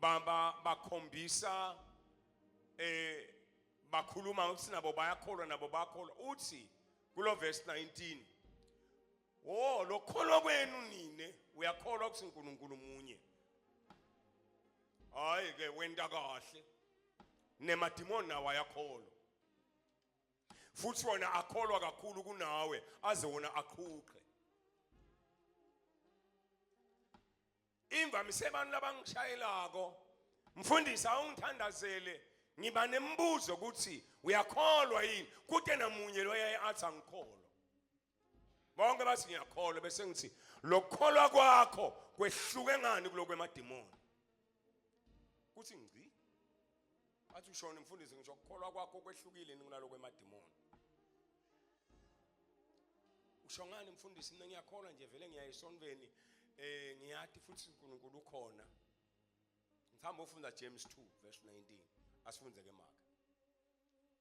baba bakhombisa eh bakhuluma ukuthi nabo bayakholwa nabo bakholwa uthi kulo verse 19 wo lokholwa kwenu nine uyakholwa ukuthi uNkulunkulu munye hayi ke wenda kahle nemadimoni nawo ayakholwa futhi wona akholwa kakhulu kunawe aze wona aqhuqe imvamise abantu labangishayelako mfundisi awungithandazele ngiba nemibuzo ukuthi uyakholwa yini kute namunye loyaye athi angikholwa bonke bathi ngiyakholwa bese ngithi lokukholwa kwakho kwehluke ngani kulokwemadimoni kuthi ngci athi ushona mfundisi ngisho ukukholwa kwakho kwehlukile kunaloko emadimoni usho ngani mfundisi mina ngiyakholwa nje vele ngiya esontweni eh ngiyathi futhi uNkulunkulu ukhona ngihamba ufunda James 2 verse 19 asifunze ke maka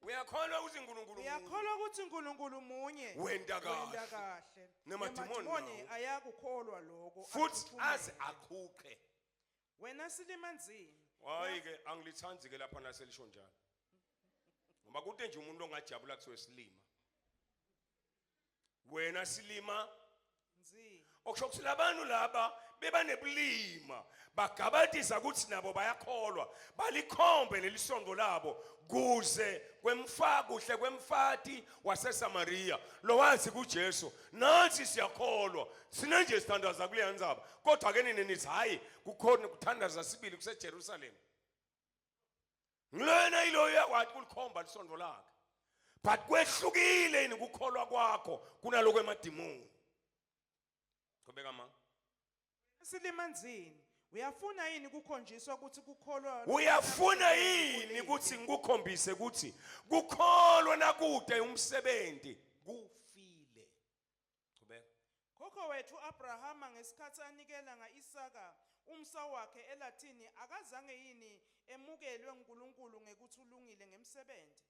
Uyakholwa ukuthi uNkulunkulu Uyakholwa ukuthi uNkulunkulu munye. Wenda kahle. Wenda kahle. Nemadimoni ayakukholwa lokho. Futhi aze aqhuqe. Wena silima nzima. Hayi ke angilithandi ke lapha naselisho njalo. Ngoba kude nje umuntu ongajabula kuthiwe silima. Wena silima nzima. Okusho ukuthi labantu laba beba nebulima bagabadisa ukuthi nabo bayakholwa balikhombe lelisondo labo kuze kwemfa kuhle kwemfati waseSamaria lowazi kuJesu nathi siyakholwa sine nje sithandaza kuleya ndzaba kodwa ke nini nithi hhayi kukhona kuthandaza sibili kusejerusalema ngilona yiloyo uyakwati kulikhomba lisondo lakhe but kwehlukile yini kukholwa kwakho kunaloko emadimoni qhubeka ma Silimanzini. Uyafuna yini ukukhonjiswa ukuthi kukholwa Uyafuna yini ukuthi ngikukhombise ukuthi kukholwa nakude umsebenzi kufile. Qhubeka. Khokho wethu Abrahama ngesikhathi anikela ngaIsaka umsa wakhe eLathini akazange yini emukelwe uNkulunkulu ngekuthi ulungile ngemsebenzi.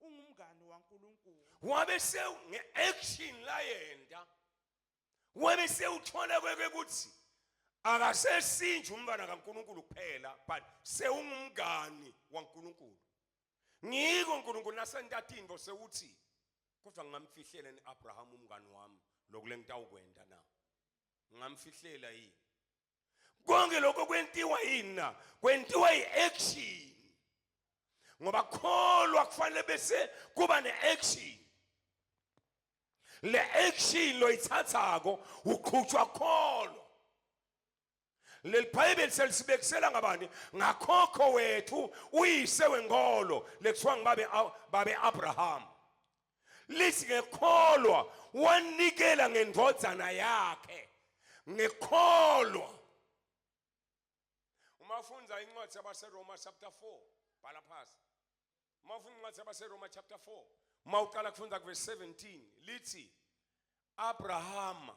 ungumngani waNkulunkulu wabe sewu nge-action layenda wabe sewuthola kweke ukuthi akasesinje umntwana kaNkulunkulu kuphela but sewungumngani waNkulunkulu ngiko uNkulunkulu nasentatini bose uthi kodwa ngingamfihlela ni-Abraham umngani wami lokule ngitawukwenda na ngingamfihlela yini konke lokho kwentiwa yini na kwentiwa i-action ngoba kholwa kufanele bese kuba ne-action le action loyithathako uqhutshwa kholo leli bhayibheli selisibekisela ngabani ngakhokho wethu uyise wenkolo lekuthiwa ngibabe babe abraham lithi ngekholwa wanikela ngendvodzana yakhe ngekholwa uma ufunda incwadi yabaseroma chapter 4 bhala phasi uma ufunda incwadi yabaseroma chapter 4 uma uqala kufunda kuverse 17 lithi abrahama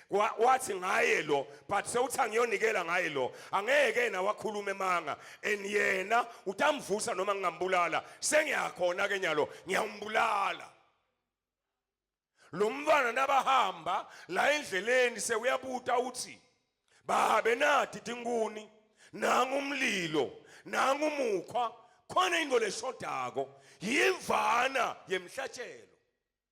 Wa- wathi ngaye lo but sewuthi angiyonikela ngaye lo angeke yena wakhuluma emanga and yena utamvusa noma ngingambulala sengiyakhona ke nyalo ngiyawumbulala lo mfana nabahamba la endleleni sewuyabuta uthi babe nati tinkuni nangu umlilo nangu umukhwa khona into leshodako yimvana yemhlatshelo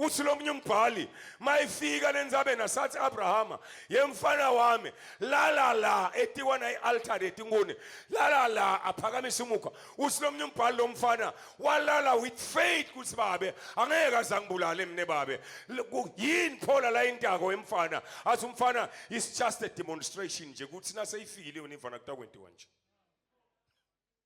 uthi lo munye umbhali mayifika lenzabeni asathi Abrahama yemfana wami lala la etikwana ialtare etinkuni lala la aphakamisa umukhwa uthi lo munye umbhali lo mfana walala with faith kuthi babe angeke azangibulale mina babe yini phola la intako emfana athi umfana is just a demonstration nje kuthi naseyifikile yona imfana kutakwenziwa nje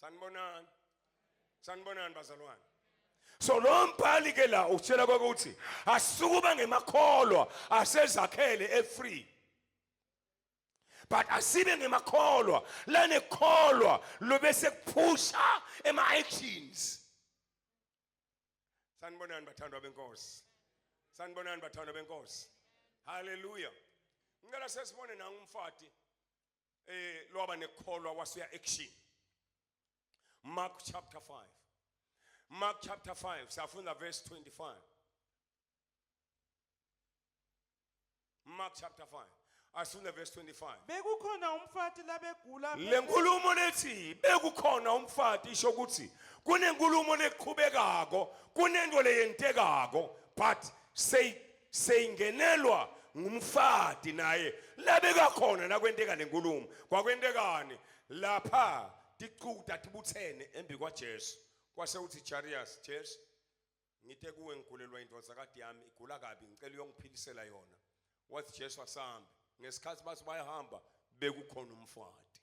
sanibonani sanibonani bazalwane so lo mbhali ke la utshela kwakuthi asikuba ngemakholwa asezakhele efree but asibe ngemakholwa lanekholwa lobe sekuphusha ema actions sanibonani bathandwa benkosi sanibonani bathandwa benkosi haleluya ngicela sesibone nangu umfati eh lwaba nekholwa wasuya action Mark chapter 5 Mark chapter 5 siyafunda verse 25 Mark chapter 5 asifunda verse 25 bekukhona umfati labegula lenkulumo lethi bekukhona umfati isho ukuthi kunenkulumo leqhubekako kunento leyentekako but say seyingenelwa ngumfati naye labeka khona nakwenteka lenkulumo kwakwentekani lapha ticuta tibutsene embi kwajesu kwase uthi jarius jesu ngite kuwe ngigulelwa indvodzakati yami igula kabi ngicela uyongiphilisela yona wathi jesu asambe ngesikhathi bathi bayahamba bekukhona umfati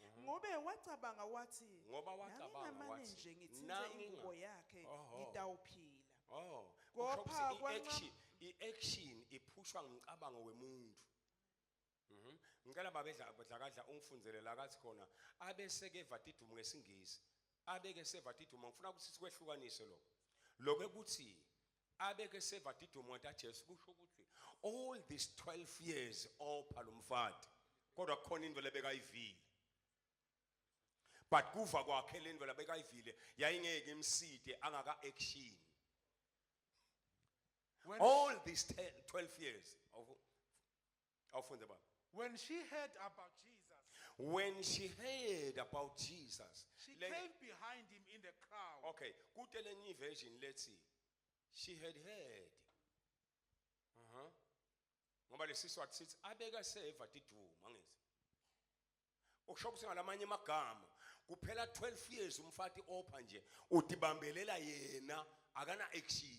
Mhm. ngobe wacabanga wathi Ngoba wacabanga nangingamane wathi, nje ngithinte nanginga- ingubo yakhe Oho. ngitawuphila Oh, Kopha kusho ukuthi kwancam- i-action- i-action iphushwa ngumcabango wemuntu. Mhm. Ngicela babedla badlakadla ungifundzele la kathi khona abeseke vatidumu ngesingisi. Abeke sevatidumu ngifuna ukuthi sikwehlukanise lokho. Lokho ukuthi abeke sevadidwe umuntu aJesu kusho ukuthi all these 12 years opha lomfati kodwa kukhona into lebekayivile but kuva kwakhe lento labekayivile yayingeke imside angaka action all these 10, 12 years of awufunde baba When she heard about Jesus, when she heard about jesus she Le- came behind him in the crowd. okay kute lenye version lethi she had heard uh-huh. ngoba lesiswati sithi abeka seva tiduma angithi okusho ukuthi ngalamanye amagama kuphela 12 years umfati opha nje udibambelela yena akana action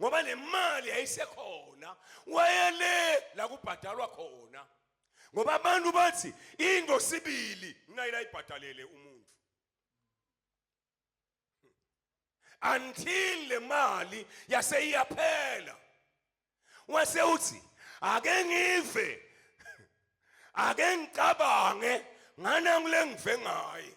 ngoba nemali yayisekhona wayele la kubhadalwa khona ngoba abantu bathi into sibili ngayila ibhadalele umuntu until le mali yase iyaphela wase uthi ake ngive ake ngicabange ngana ngile ngive ngaye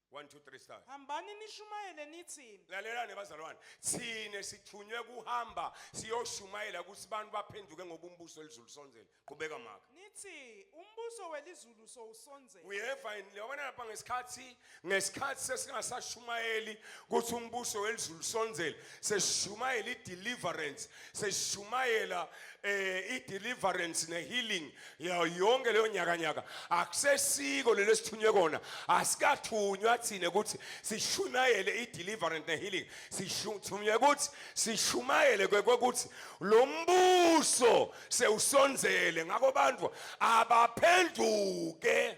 1 2 3 start hambani nishumayele nithini lalelani bazalwane thina sithunywe kuhamba siyoshumayela ukuthi abantu baphenduke ngoba umbuso elizulu sonzele qhubeka maka nithi umbuso welizulu sowusonzele uyeva yini lewona lapha ngesikhathi ngesikhathi sesingasashumayeli ukuthi umbuso welizulu sonzele seshumayela ideliverance sesishumayela eh i-deliverance ne-healing yayo yonke leyo nyakanyaka akusesiko lelo sithunywe kona asikathunywa thina ukuthi sishumayele i-deliverance ne-healing sithunywe ukuthi sishumayele kwekuthi lo mbuso sewusonzele ngakho bantu abaphenduke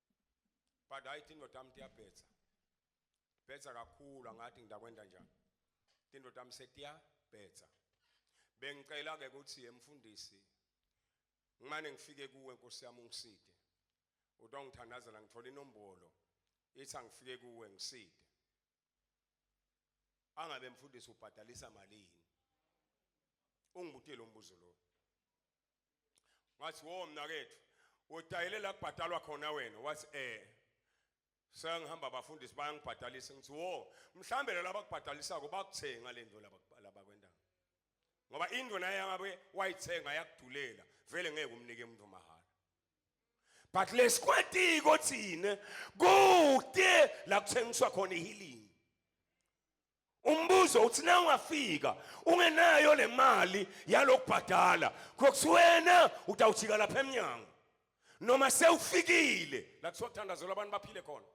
but hayi indoda yami iyabhetha bhetha kakhulu angathi ngidakwenza njani indoda yami setiyabhetha bengicela ke ukuthi emfundisi ngimane ngifike kuwe nkosi yami ungiside utongithandazela ngithola inombolo ithi angifike kuwe ngiside angabe mfundisi ubhadalisa malini ungibutile umbuzo lo ngathi wo mnakethu udayile la kubhadalwa khona wena wathi eh sengihamba abafundisi bayangibhadalisa ngithi wo mhlambe laba kubhadalisako bakuthenga le nto laba laba kwendawo ngoba indlu naye yangabe wayithenga yakudulela vele ngeke umnike umuntu mahhala but lesikwatiko thina kude la kuthengiswa khona ihealing umbuzo uthi na ungafika ungenayo le mali yalokubhadala kokusiwena utawujika lapha emnyango noma sewufikile la kuthiwa kuthandazelwa abantu baphile khona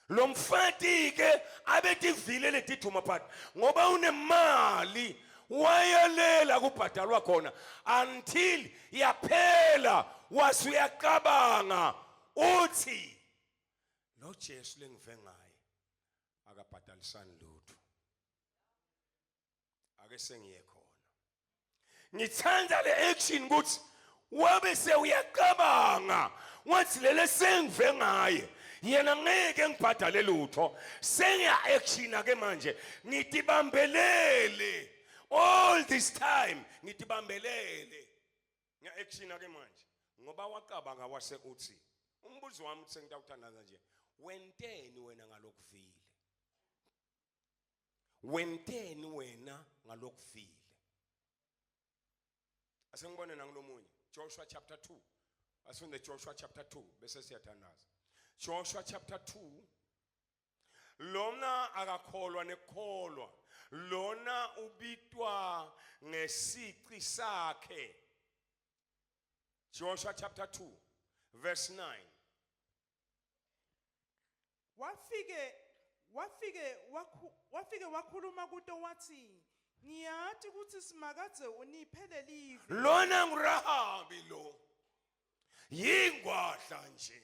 lo mfati-ke abetivile letiduma phati ngoba unemali wayelela kubhadalwa khona until yaphela wase uyacabanga uthi lo jesu lengive ngaye akabhadalisani lutho ake sengiye khona ngithanda le action ukuthi wabe sewuyacabanga wathi lele sengive ngaye yena ngeke ngibhadale lutho sengiya action ke manje ngitibambelele all this time ngitibambelele ngiya action ake manje ngoba wacabanga wase uthi umbuzo wami uthi sengitawuthandaza nje wenteni wena ngalokuvile wenteni wena ngalokuvile asengibone nangilomunye Joshua chapter 2 asunde Joshua chapter 2 bese siyathandaza Joshua chapter 2 lona akakholwa nekholwa lona ubitwa ngesici sakhe Joshua chapter 2 verse 9 wafike wafike wafike wakhuluma kuto wathi ngiyati ukuthi simakadze uniphe lelive lona ngurahabi lo yingwadla nje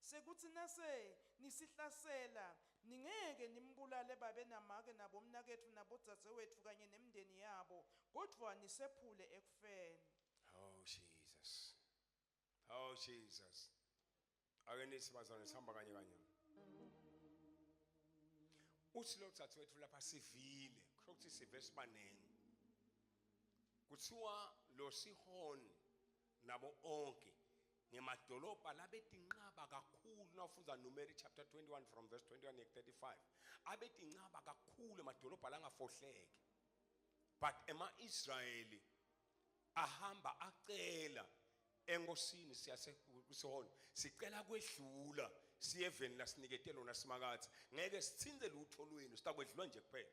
Sekuthi nase nisihlasela, ningeke nimbulale babe namake nabomnaketfu nabodzadzewetfu kanye nemndeni yabo, kodvwa nisephule ekufeni. Oh Jesus. Oh Jesus. Ake nithi bazalwane sihamba kanye kanye. Uthi lo dzadzewethu lapha sivile, kusho ukuthi sive sibaningi. Kuthiwa lo sihoni nabo onke ngemadolobha labetinqaba kakhulu nawufunda numeri chapter 21 from verse 21 yek 35 abetinqaba kakhulu emadolobha langafohleke but ema-israyeli ahamba acela enkosini siyasekusona sicela kwedlula siye eveni lasinikete lona simakathi ngeke sithinte lutho lwenu sitakwedlula nje kuphela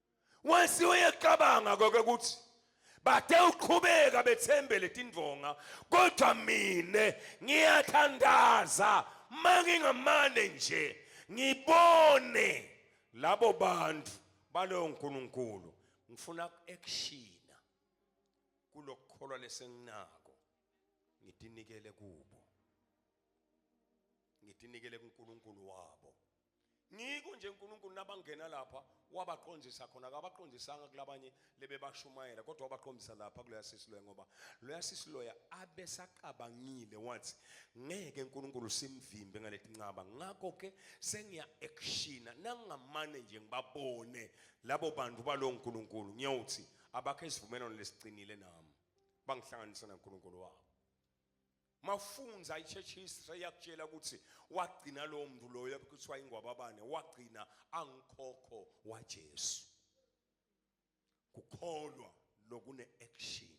Once uyecabanga konke ukuthi bathe uqhubeka bethembele tindvonga kodwa mina ngiyathandaza mangingamane nje ngibone labo bantu baloyo nkulunkulu ngifuna ku-actiona kulokukholwa lesenginako ngitinikele kubo ngitinikele kunkulunkulu wabo ngiko nje uNkulunkulu nabangena lapha wabaqondisa khona akabaqondisanga kulabanye lebebashumayela kodwa wabaqondisa lapha kuloya sisiloya ngoba loya sisiloya abesaqabangile wathi ngeke uNkulunkulu simvimbe ngaletinqaba ngakho ke sengiya actiona nangamane nje ngibabone labo bantu balo uNkulunkulu ngiyawuthi abakhe isivumelwano lesiqinile nami bangihlanganisa naNkulunkulu wabo mafunza i-church history yakutshela ukuthi wagcina lowo mntu loyo kuthiwa ingwababane wagcina angikhokho wajesu kukholwa nokune-action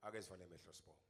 ake sivale emehlo sibonga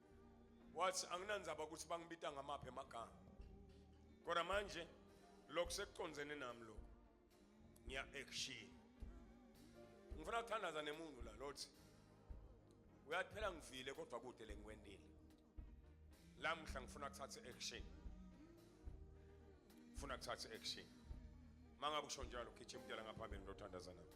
wathi anginandzaba ukuthi bangibita ngamaphi amagama kodwa manje lokhu sekucondzene nami lokhu ngiya action ngifuna ukuthandaza nemuntu la lothi uyathi phela ngivile kodwa kude lengikwendile lamuhla ngifuna kuthatha action ngifuna kuthatha action mangabe usho njalo gijima ngaphambi ngitothandaza nami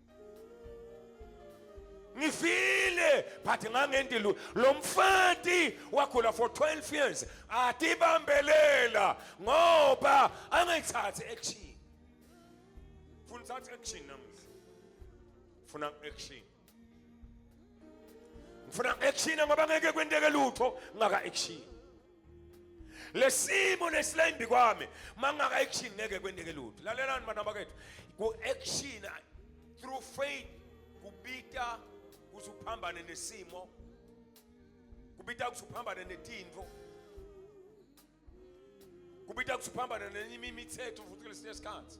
ngifile but ngangenti lo mfati wakhula for 12 years atibambelela ngoba angayithathi action funa uthathe action namuhla funa action ngifuna action ngoba ngeke kwenteke lutho ngaka action lesimo nesilembi kwami mangaka action ngeke kwendeke lutho lalelani bana bakethu ku action through faith kubita ukuthi uphambane nesimo kubita ukuthi uphambane netinto kubita ukuthi uphambane nenye imithetho futhi kulesinye isikhathi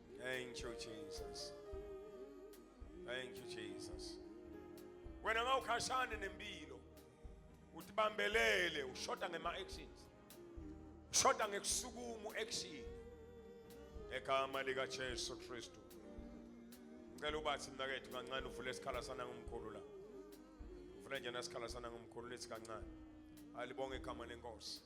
Thank you Jesus. Thank you Jesus. Wena ngawukhashane nempilo. Uthi bambelele ushoda ngema actions. Ushoda ngekusukumu action. Egama lika Jesu Kristu. Ngicela ubathi mnakethu kancane uvule isikhala sana ngomkhulu la. Uvule njena isikhala sana ngomkhulu lethi kancane. Alibonge igama lenkosi.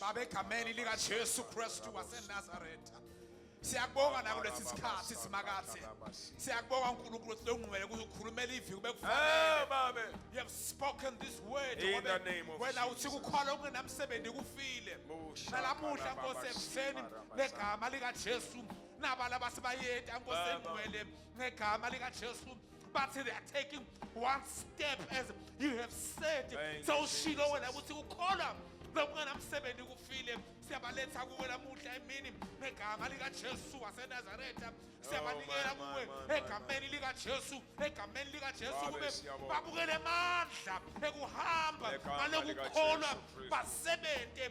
Baba egameni lika Jesu Kristu waseNazaretha siyakubonga nako lesi sikhathi simakathi siyakubonga uNkulunkulu ukuthi longqwele kuzokhulumela ivi kube kufanele you have spoken this word wena uthi kukhola okungenamsebenzi kufile nalamuhla nkosi ekuseni negama lika Jesu nabala basibayeti ankosi engcwele ngegama lika Jesu but they are taking one step as you have said Thank sewushilo wena ukuthi ukholwa lomngana msebenzi kufile siyabaletha kuwe lamuhla emini ngegama likajesu wasenazaretha siyabanikela oh, kuwe egameni likajesu egameni likajesu kube babukele amandla ekuhamba ngalokukholwa basebenze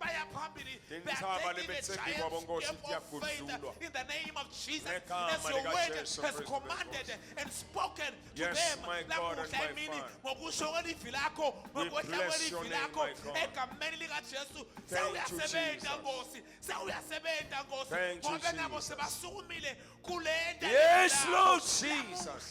baya phambili in the name of Jesus as your word has commanded and spoken to them lamuhla emini ngokusho kwelivi lakho ngokwehla kwelivi lakho egameni likajesu sewuyasebenza nkosi sewuyasebenza nkosi ngobe nabo sebasukumile kule nto yes lord jesus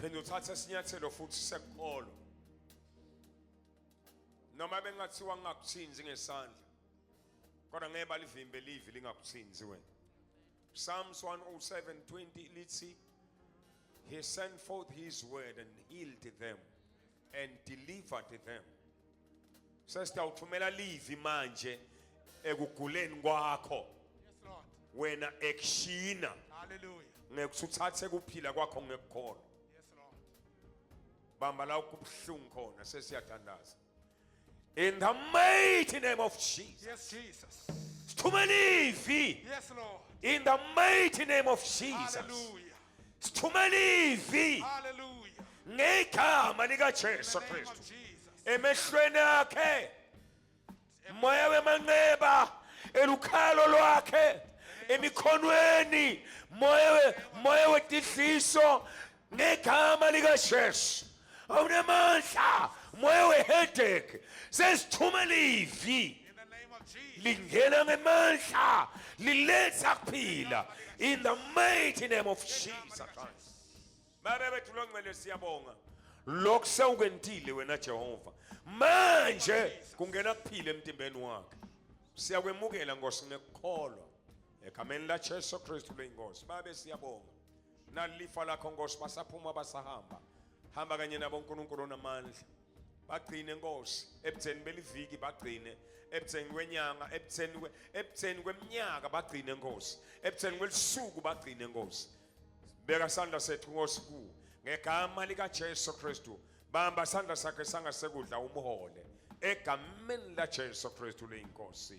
phinde uthathe isinyathelo futhi sekuqolo noma bengathiwa ngingakuthinzi ngesandla kodwa ngeke balivimbe livi lingakuthinzi wena Psalms 107:20 lithi he sent forth his word and healed them and delivered them sesitawuthumela livi manje ekuguleni kwakho wena ekushina ngekuthathe kuphila kwakho ngekukholwa bamba la kubuhlungu khona sesiyadandaza in the mighty name of Jesus yes Jesus sithumela ivi yes lord in the mighty name of Jesus Hallelujah. sithumela ivi Hallelujah. ngegama likaJesu In the name of Kristu Jesus. emehlweni akhe moya wemanxeba elukhalo lwakhe emikhonweni moya we- moya wetidliso ngegama likaJesu awunamandla moya wehedek sesithumela ivi lingena ngemandla liletha kuphila in the mighty name of jesus christ baba bethu lo ngcele siyabonga lokhu sewukwentile wena jehova manje kungena kuphila emtimbeni wakhe siyakwemukela nkosi ngekukholwa egameni lajesu kristu leyinkosi babe siyabonga nalifa lakho nkosi basaphuma basahamba hamba kanye nabo uNkulunkulu onamandla bagcine nkosi ebutheni beliviki bagcine ebutheni kwenyanga ebutheni ebutheni kweminyaka bagcine nkosi ebutheni kwelisuku bagcine nkosi beka sandla sethu nkosi ku ngegama lika Jesu Kristu bamba sandla sakhe sangasekudla umhole egameni la Jesu Kristu leyinkosi